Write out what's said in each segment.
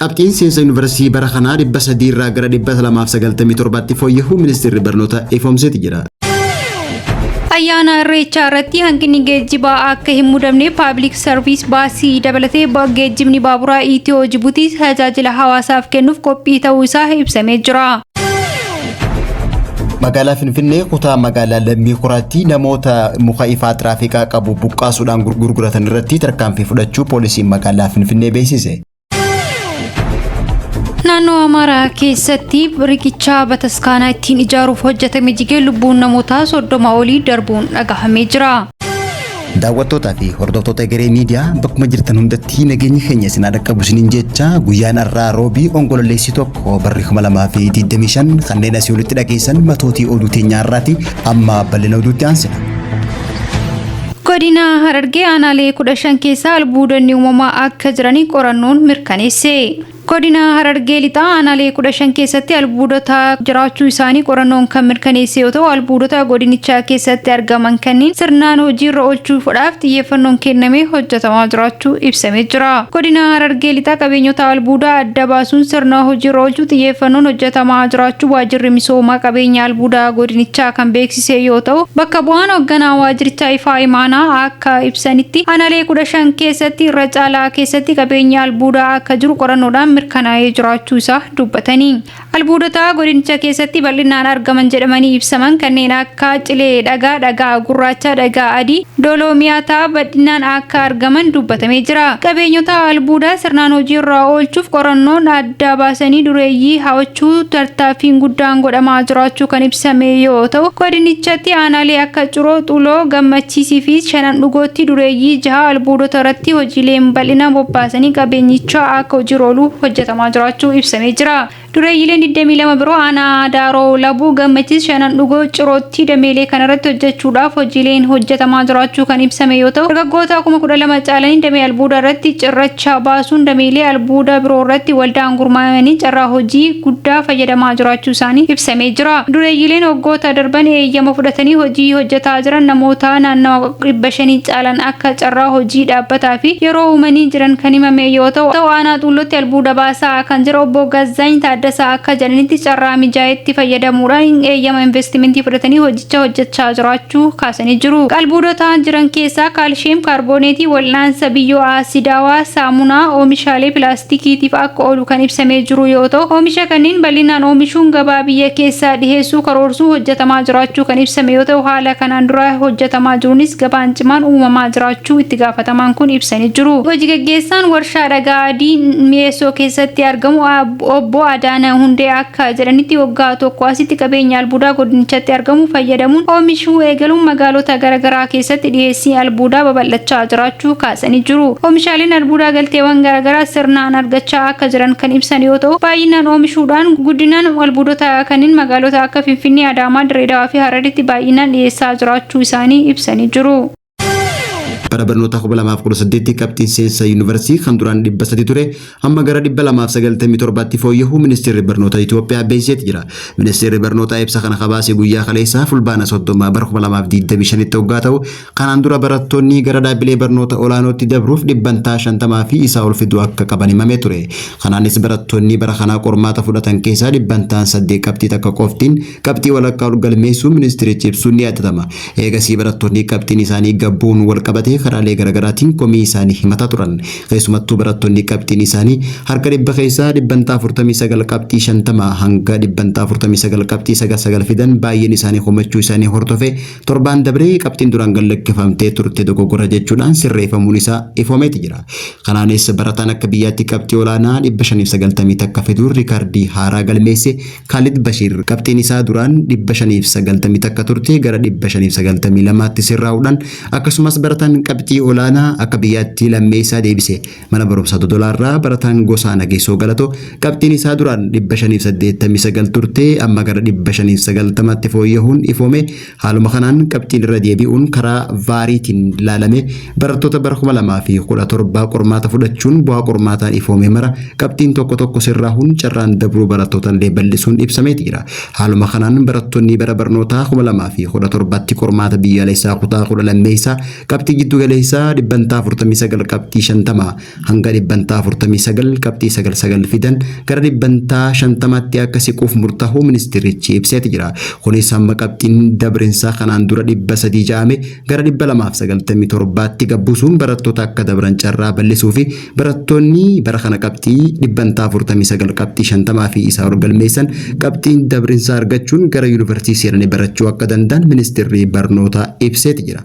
Qabxiin seensa yuunivarsiitii bara kanaa 300 irraa gara 297tti fooyya'uu ministeerri barnootaa ifoomseeti jira. Ayyaana Irreechaa irratti hanqinni geejjibaa akka hin mudamne paabilik sarviis baasii dabalatee geejjibni baaburaa Itiyoo Jibuutii tajaajila hawaasaaf kennuuf qophii ta'uu isaa ibsamee jira. Magaalaa Finfinnee kutaa magaalaa Lammii Kuraatti namoota muka ifaa tiraafikaa qabu buqqaasuudhaan gurguratan irratti tarkaanfii fudhachuu poolisiin magaalaa Finfinnee beeksise. Naannoo Amaaraa keessatti riqichaa bataskaanaa ittiin ijaaruuf hojjetame jigee lubbuun namootaa soddoma olii darbuun dhagahamee jira. Daawwattootaa fi hordoftoota Egeree Miidiyaa bakkuma jirtan hundatti nageenyi keenya isin haa dhaqqabu isiniin jecha guyyaan har'aa roobii onkololeessi tokko barri 2025 kanneen asii olitti dhageessan matootii oduu teenyaa har'aati amma bal'ina oduutti aansina. Godina Harargee aanaalee 15 keessaa albuudonni uumamaa akka jiranii qorannoon mirkaneesse. Godina Harargee Lixaa aanaalee 15 keessatti albuudota jiraachuu isaanii qorannoon kan mirkaneesse yoo ta'u, albuudota godinichaa keessatti argaman kanniin sirnaan hojiirra oolchuufdhaaf xiyyeeffannoon kennamee hojjetamaa jiraachuu ibsamee jira. Godina Harargee Lixaa qabeenyota albuudaa adda baasuun sirna hojiirra oolchuu xiyyeeffannoon hojjetamaa jiraachuu Waajjirri Misooma Qabeenya Albuudaa Godinichaa kan beeksise. taasisee yoo ta'u, bakka bu'aan hogganaa waajjirichaa Ifaa Imaanaa akka ibsanitti, aanalee 15 keessatti irra caalaa keessatti qabeenyi albuudaa akka jiru qorannoodhaan mirkanaa'ee jiraachuu isaa dubbatanii, albuudota godinicha keessatti bal'innaan argaman jedhamanii ibsaman kanneen akka cilee dhagaa, dhagaa gurraacha, dhagaa adii, dooloomiyataa badhinnaan akka argaman dubbatamee jira. Qabeenyota albuudaa sirnaan hojii irraa oolchuuf qorannoon adda. addaa baasanii dureeyyii ha'ochuu tartaaffiin guddaan godhamaa jiraachuu kan ibsame yoo ta'u, godinichatti aanaalee akka Ciroo, Xuloo, Gammachiisii fi Shanan Dhugootti dureeyyii jaha albuudota irratti hojiileen bal'inaan bobbaasanii qabeenyicha akka hojiirra oolu hojjetamaa jiraachuu ibsamee jira. Dureeyyiileen 22 biroo aanaa Daaroo Labuu, Gammachiis, Shanan Dhugoo, Cirootti. tti dameelee kanarratti hojjechuudhaaf hojiileen hojjetamaa jiraachuu kan ibsame yoo ta'u, dargaggoota kuma 12 caalanii damee albuudaa irratti cirracha baasuun dameelee albuudaa biroo irratti waldaan gurmaa'anii carraa hojii guddaa fayyadamaa jiraachuu isaanii ibsamee jira. Dureeyyiileen waggoota darban eeyyama fudhatanii hojii hojjetaa jiran namoota naannawa 500 caalan akka carraa hojii dhaabbataa fi yeroo uumanii jiran kan himame yoo ta'u, aanaa Xuullootti albuuda baasaa kan jira Obbo Gazzaany Taaddasaa Akka jedhanitti carraa mijaa'etti fayyadamuudhaan hin eeyyama investimentii fudhatanii hojicha hojjechaa jiraachuu kaasanii jiru. Albuudota jiran keessaa kaalshiyeem kaarbooneetii wal'aansa biyyoo aasidaawaa, saamunaa, oomishaalee pilaastikiitiif akka oolu kan ibsamee jiru yoo ta'u, oomisha kanneen bal'inaan oomishuun gabaa biyya keessaa dhiheessuu karoorsuun hojjetamaa jiraachuu kan ibsame yoo ta'u, haala kanaan dura hojjetamaa jiruunis gabaan cimaan uumamaa jiraachuu itti gaafatamaan kun ibsanii jiru. Hoji gaggeessaan warshaa dhagaa adii Mi'eessoo keessatti argamu Aab. Obbo Adaana Hundee akka jedhanitti waggaa tokko asitti qabeenya albuudaa godinichatti argamu fayyadamuun oomishuu eegaluun magaalota garaagaraa keessatti dhiyeessii albuudaa babal'achaa jiraachuu kaasanii jiru. Oomishaaleen albuudaa galteewwan garaagaraa sirnaan argachaa akka jiran kan ibsan yoo ta'u, baay'inaan oomishuudhaan guddinaan albuudota kanneen magaalota akka Finfinnee, Adaamaa, Dirreedawaa fi Hararitti baay'inaan dhiyeessaa jiraachuu isaanii ibsanii jiru. bara barnoota 2018tti qabxiin seensa yuunivarsiitii kan duraan 300 ture amma gara 297tti fooyya'uu ministeerri barnoota Itoophiyaa beeksiseeti jira. Ministeerri barnootaa ibsa kana kabaase guyyaa kaleessaa fulbaana 30 bara 2025tti hoggaa ta'u kanaan dura barattoonni gara dhaabbilee barnoota olaanootti dabruuf dhibbantaa 50 fi isaa ol fiduu akka qaban himamee ture. Kanaanis barattoonni bara kanaa qormaata fudhatan keessaa dhibbantaan 8 qabxii takka qoftiin qabxii walakkaa ol galmeessuu ministeerichi ibsuun ni yaadatama. Eegasii barattoonni qabxiin isaanii gad bu'uun wal qabatee karaalee garaagaraatiin komii isaanii himataa turan. Keessumattuu barattoonni qabxiin isaanii harka dhibba keessaa dhibbantaa 49 qabxii 50 hanga dhibbantaa 49 qabxii 99 fidan baay'een isaanii komachuu isaanii hordofee torbaan dabree qabxiin duraan gad lakkifamtee turte dogoggora jechuudhaan sirreeffamuun isaa ifoomeeti jira. Kanaanis barataan akka biyyaatti qabxii olaanaa 590 takka fiduun riikardii haaraa galmeesse Kaalid Bashiir qabxiin isaa duraan 590 takka turte gara 592tti sirraa'uudhaan akkasumas barataan qabxii olaanaa akka biyyaatti lammeessaa deebise mana barumsaa Dodolaarraa barataan Gosaa Nageessoo Galatoo qabxiin isaa duraan 589 turte amma gara 590tti fooyyahuun ifoome Haaluma kanaan qabxiin irra deebi'uun karaa vaariitiin laalame barattoota bara 2017 qormaata fudhachuun bu'aa qormaataan ifoome mara qabxiin tokko tokko sirraahuun carraan dabruu barattootallee bal'isuun ibsamee jira. Haaluma kanaan barattoonni bara barnootaa 2017tti qormaata biyyaalessaa kutaa 10 lammeessaa qabxii jiddugaleessaa dhibbantaa 49 qabxii 50 hanga dhibbantaa 49 qabxii 99 fidan gara dhibbantaa 50tti akka siquuf murtaa'uu ministeerichi ibseeti jira. Kunis hamma qabxiin dabrinsaa kanaan dura 300 ja'ame gara 297tti gabbusuun barattoota akka dabran carraa bal'isuu fi barattoonni bara kana qabxii dhibbantaa 49 qabxii 50 fi isaa ol galmeessan qabxiin dabrinsaa argachuun gara yuunivarsiitii seenanii barachuu akka danda'an ministeerri barnootaa ibseeti jira.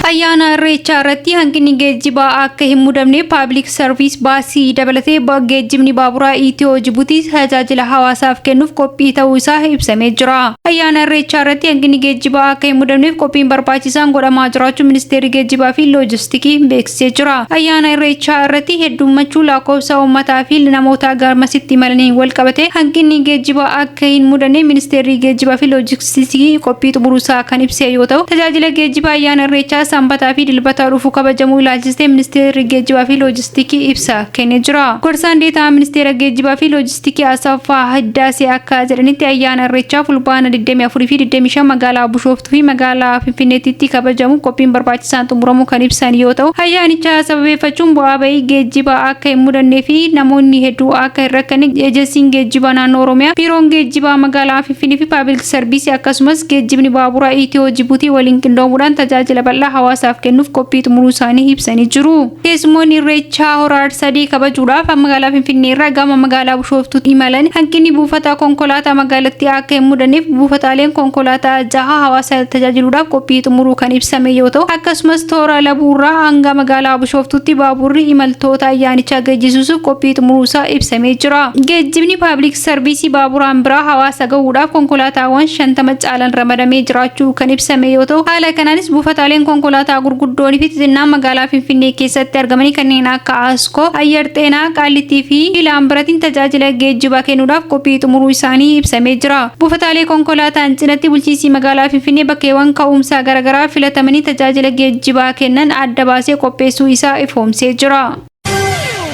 Ayyaana Irreechaa irratti hanqinni geejjibaa akka hin mudamne paabilik sarviis baasii dabalatee ba- geejjibni baaburaa Itiyoo Jibuutii tajaajila hawaasaaf kennuuf qophii ta'uu isaa ibsamee jira. Ayyaana Irreechaa irratti hanqinni geejjibaa akka hin mudamneef qophiin barbaachisaan godhamaa jiraachuu Ministeerri Geejjibaa fi Loojistikii beeksise. taasisee jira. Ayyaana Irreechaa irratti hedduummachuu laakkoofsa uummataa fi namootaa garmasitti imalaniin walqabatee hanqinni geejjibaa akka hin mudanne Ministeerri Geejjibaa fi Loojistiksii qophii xumuruusaa kan ibsee yoo ta'u, tajaajila geejjibaa Ayyaana Irreechaa Sanbataa fi Dilbata dhufu kabajamuu ilaalchisee Ministeerri Geejjibaa fi Loojistikii ibsa kennee jira. Gorsaan Deeta'aan Ministeera Geejjibaa fi Tikee Asaffaa Hiddaasee akka jedhanitti ayyaana Irreechaa Fulbaana 24 fi 25 magaalaa Bushooftuu fi magaalaa Finfinneettitti kabajamuuf qophiin barbaachisaan xumuramuu kan ibsan yoo ta'u, ayyaanicha sababeeffachuun bu'aa ba'ii geejjibaa akka hin mudannee fi namoonni hedduu akka hin rakkanne Ejensiin Geejjibaa Naannoo Oromiyaa, Biiroon Geejjibaa Magaalaa Finfinnee fi Paabilik Sarviisii akkasumas Geejjibni Baaburaa Ityoo-Jibuutii waliin qindoomuudhaan tajaajila bal'aa hawaasaaf kennuuf qophii xumuruu isaanii ibsanii jiru. Keessummoonni Irreechaa Hora Arsadee kabajuudhaaf magaalaa Finfinnee irraa gama magaalaa Bushooftuutti imalan hanqinni buufata konkolaataa magaalattii akka hin mudanneef buufataaleen konkolaataa jaha hawaasa tajaajiluudhaaf qophii xumuruu kan ibsame yoo ta'u, akkasumas toora Labuu irraa hanga magaalaa Bushooftuutti baabuurri imaltoota ayyaanichaa geejjisuusuuf qophii xumuruusaa ibsamee jira. Geejjibni Paablik Sarviisii baaburaan biraa hawaasa gahuudhaaf konkolaataawwan 50 haalan ramadamee jiraachuu kan ibsame yoo ta'u, haala kanaanis buufataaleen konkolaataa gurguddoon fi xixinnaan magaalaa Finfinnee keessatti argamanii kanneen akka Askoo, Ayyar Xeenaa, Qaallittii fi Laambaratiin tajaajila geejjibaa kennuudhaaf qophii xumuruu isaanii ibsamee jira. Buufataalee konkolaataan cinatti bulchiinsi magaalaa Finfinnee bakkeewwan ka'umsaa garaagaraa filatamanii tajaajila geejjibaa kennan adda baasee qopheessuu isaa ifoomsee jira.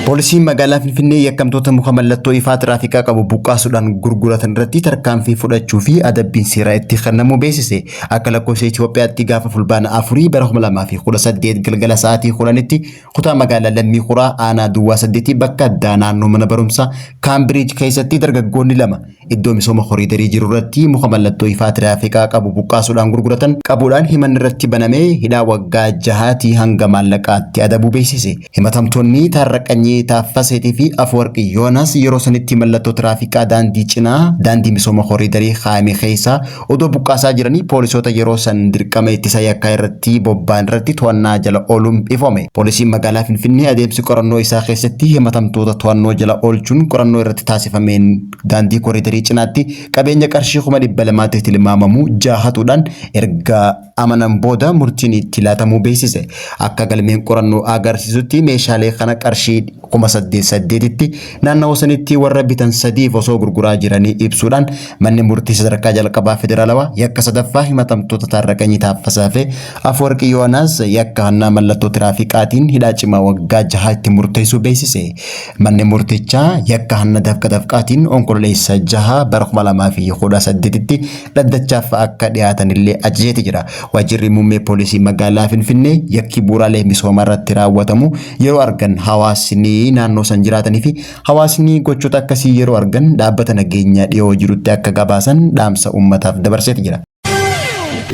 Poolisiin magaalaa Finfinnee yakkamtoota muka mallattoo ifaa tiraafikaa qabu buqqaasuudhaan gurguratan irratti tarkaanfii fudhachuu fi adabbiin seeraa itti kennamuu beeksise. Akka lakkoofsa Itoophiyaatti gaafa fulbaana afurii bara 2018 galgala sa'aatii 10tti kutaa magaalaa Lammii Kuraa aanaa Duwwaa 8 bakka addaa naannoo mana barumsaa Kaambiriij keessatti dargaggoonni lama Iddoo misooma koriidarii jiru irratti muka mallattoo ifaa tiraafikaa qabu buqqaasuudhaan gurguratan qabuudhaan himanni irratti baname hidhaa waggaa jahaatii hanga maallaqaatti adabuu beeksise. Himatamtoonni Taarraqanyii Taaffaseetii fi Afwarqi Yoonaas yeroo sanitti mallattoo tiraafikaa daandii cinaa daandii misooma koriidarii kaayame keessaa Odoo buqqaasaa jiranii poolisoota yeroo san dirqama ittisa yakkaa irratti bobba'an irratti to'annaa jala ooluun ifoome. Poolisiin magaalaa Finfinnee adeemsi qorannoo isaa keessatti himatamtoota to'annoo jala oolchuun qorannoo irratti taasifameen daandii koriidarii cinaatti qabeenya qarshii kuma dhibba lamaatti tilmaamamu jaha hatuudhaan erga amanan booda murtiin itti laatamuu beeksise. Akka galmeen qorannoo agarsiisutti meeshaalee kana qarshii kuma saddeet saddeetitti naannawa sanitti warra bitan sadiif osoo gurguraa jiranii ibsuudhaan manni murtii sadarkaa jalqabaa federaalawaa yakka sadaffaa himatamtoota Taarraqanyii Taaffasaa fi Afwarqii Yoonaas yakka hannaa mallattoo tiraafiqaatiin hidhaa cimaa waggaa jahaa itti murteessuu beeksise. Manni murtichaa yakka hanna dafqa dafqaatiin onkololeessa jahaa bara 2018tti dhaddachaaf akka dhiyaatanillee ajajeeti jira. Waajjirri muummee poolisii magaalaa Finfinnee yakki bu'uuraalee misoomaa irratti raawwatamu yeroo argan hawaasni naannoo san jiraatanii fi hawaasni gochoota akkasii yeroo argan dhaabbata nageenyaa dhiyoo jirutti akka gabaasan dhaamsa uummataaf dabarseeti jira.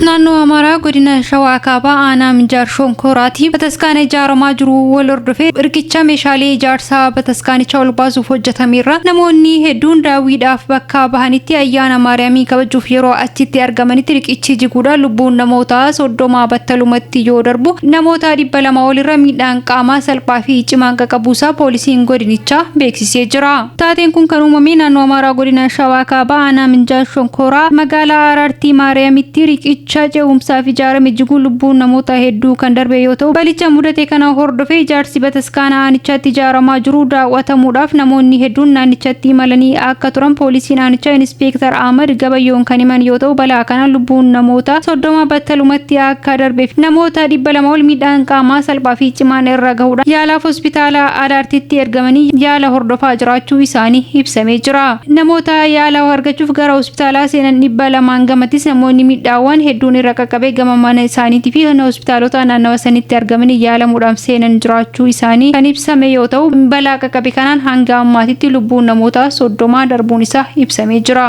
Naannoo Amaaraa godina Shawaa Kaabaa aanaa Minjaar Shonkooraatii bataskaana ijaaramaa jiru wal hordofee riqicha meeshaalee ijaarsaa bataskaanicha ol baasuuf hojjetameerra namoonni hedduun daawwiidhaaf bakka Bakka bahanitti ayyaana Maariyaamii kabajuuf yeroo achitti argamanitti riqichi jiguudhaan lubbuun namoota 30 battalumatti yoo darbu, namoota 200 ol irra miidhaan qaamaa salphaa fi cimaan qaqabuusaa poolisiin godinichaa beeksisee jira. Taateen kun kan uumame naannoo Amaaraa godina Shawaa Kaabaa aanaa Minjaal Shonkooraa magaalaa Araartii Maariyaamitti riqicha Cha ce'umsaa fi ijaarame jiguun lubbuun namoota hedduu kan darbe yoo ta'u, balicha mudate kana hordofee ijaarsi bataskaana aanichaatti ijaaramaa jiru daaw'atamuudhaaf namoonni hedduun naannichatti imalanii akka turan poolisiin aanichaa Inispeektar Ahmad Gabayyoon kan himan yoo ta'u, balaa kanaan lubbuun namoota 30 battalumatti akka darbee fi namoota 200 ol miidhaan qaamaa salphaa fi cimaan irra gahuudhaan yaalaaf hospitaala Adaartitti ergamanii yaala hordofaa jiraachuu isaanii ibsamee jira. Namoota yaala argachuuf gara hospitaalaa seenan 200n gamatis namoonni miidhaawwaan hedduun irra qaqqabee gama mana isaaniitii fi hona hospitaalotaa naannawa sanitti argamanii yaalamuudhaaf seenan jiraachuu isaanii kan ibsame yoo ta'u balaa qaqqabe kanaan hanga ammaatitti lubbuun namoota 30 darbuun isaa ibsamee jira.